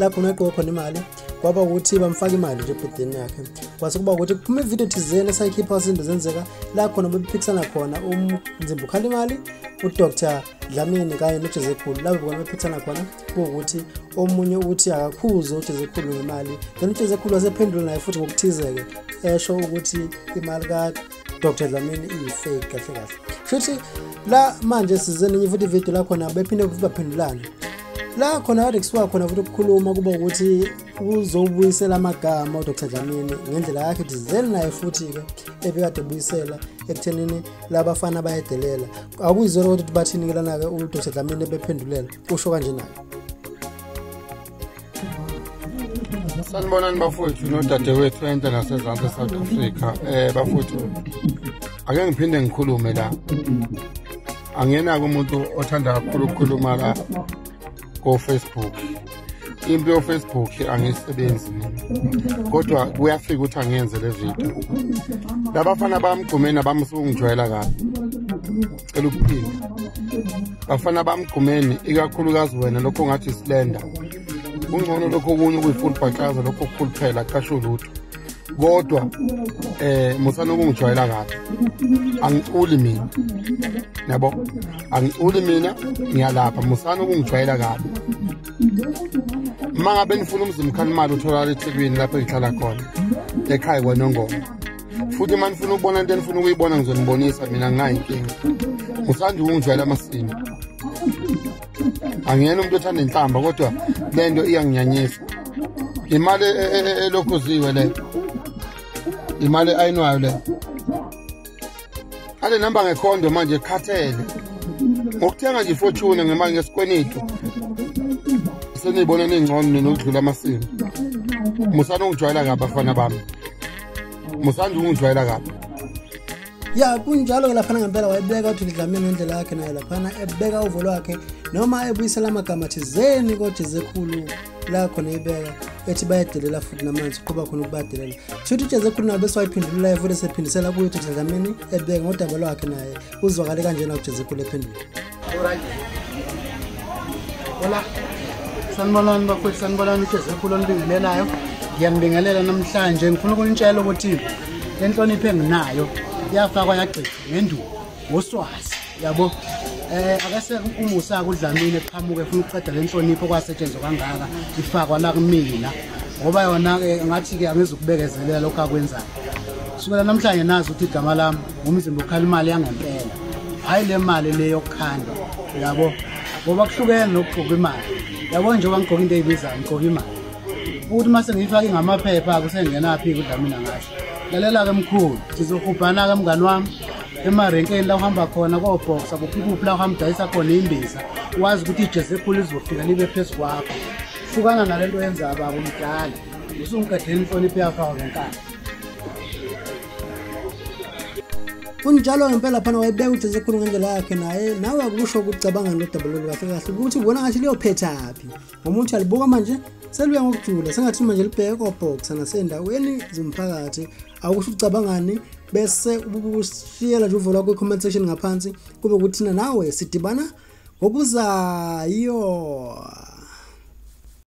la khona agqoka khona imali kwaba ukuthi bamfaka imali nje ebhudini yakhe kwase kuba ukuthi kuphuma ividiyo thizeni esayikhipha izinto zenzeka la khona bebephikisana khona umzimba ukhala imali udr dlamini kanye nojezekhulu labo bona bephikisana khona kuwukuthi omunye uthi akakhuze ujezekhulu ngemali then ujezekhulu wasephendula naye futhi ngokuthize-ke esho ukuthi imali Dr Dlamini iyifake kahle kahle futhi la manje sizeninye futhi ivideo lakhona bephinde futhi baphendulane la khona kade kusuka khona futhi ukukhuluma kuba ukuthi uzobuyisela amagama uDr Dlamini ngendlela yakhe ukuthi zeli naye futhi-ke ebekade ebuyisela ekuthenini labafana bayedelela akuyizona kodwa ukuthi bathini-ke lana-ke uDr Dlamini ebephendulela usho kanje naye sanibonani bafowethu nodadewethu enhle nasezantsi esouth africa um bafowethu ake ngiphinde ngikhulume la angenake umuntu othanda kakhulu ukukhuluma la kofacebook into yofacebook angiyisebenzi mina kodwa kuyafika ukuthi angiyenze le video labafana bamgqumeni abamsukungijwayela kabi cela ukuphila bafana bamgqumeni ikakhulukazi wena lokho ngathi isilenda kungcono lokho okunye okuyi-full bhaxaza lokho okukhulu phela qasho lutho kodwa eh musana ukungijwayela kahle angiculi mina yabo angiculi mina ngiyalapha musana ukungijwayela kabi uma ngabe nifuna umzimkhalimali utholakala ethekwini lapho ngihlala khona ekhaya kwanongoma futhi uma nifuna ukubona into enifuna ukuyibona ngizonibonisa mina nginayo inkinga ngisanda ukungijwayela amasini angiyena umuntu othanda inhlamba kodwa le nto iyanginyanyisa imali e- e- e- elokhuziwe le imali ayinwayo le ale nihamba ngekhondo manje khathele ngokuthenga nje ifortune ngemali ngesikwenitu seniyibona ningcono nina ukudlula amasini musani ungijwayela kabi abafana bami musanda ukungijwayela kabi ya kunjalo-ke laphana ngempela wayebeka uthuli dlamini ngendlela yakhe naye laphana ebeka uvo lwakhe noma ebuyisela amagama thizeni kojezekhulu la khona ibeka ethi bayadelela futhi namanzi uqhuba khona ukubadelela shuthi ujezekhulu nabe siwayiphendululayo futhi sephindisela kuyo uthuli dlamini ebeka ngodaba lwakhe naye uzwakale kanjena ujezekhulu ephendula Hola. Sanibonani bakwethu sanibonani uJezephula olibingelelayo. Ngiyambingelela namhlanje ngifuna ukunitshela ukuthi le nhlonipho enginayo yafakwa yagcina ngenduku ngoswazi yabo eh akase umusa kudlamile qhamuke efuna ukuqeda le nhlonipho kwasetshenzwa kangaka ifakwa la kumina ngoba yona ke ngathi ke angizukubekezelela lokho akwenzayo kusukela namhlanje nazi ukuthi igama lami umzimba ukhala imali yangempela hhayi le mali le yokukhanda yabo ngoba kuhlukene nokugqoka imali yabo njengoba ngigqoka into eyibizayo ngigqoka imali ukuthi uma sengiyifake ngamaphepha-ke usengenaphi-ke udla mina ngasho lalela-ke mkhulu sizohubhana-ke mngani wami emarenkeni la uhamba khona kobhoxa kuphikuphi la uhamba udayisa khona imbiza wazi ukuthi ijezi ekhulu lizofika libe phezu kwakho hlukana nale nto yenza baba umdala usungiqedela inhlonipho yakho awo ngenkani kunjalo ngempela phana wayebeka uJesu ekhulu ngendlela yakhe naye nawe akusho ukucabanga nodaba lolu kahle kahle ukuthi ubona ngathi liyophethaphi ngoba uthi alibuka manje seluya ngokujula sengathi manje libheke kobhoxa nasendaweni zomphakathi awukusho ukucabangani bese ubushiyela nje uvo lwakho i-comment section ngaphansi kube kuthina nawe sidibana ngokuzayo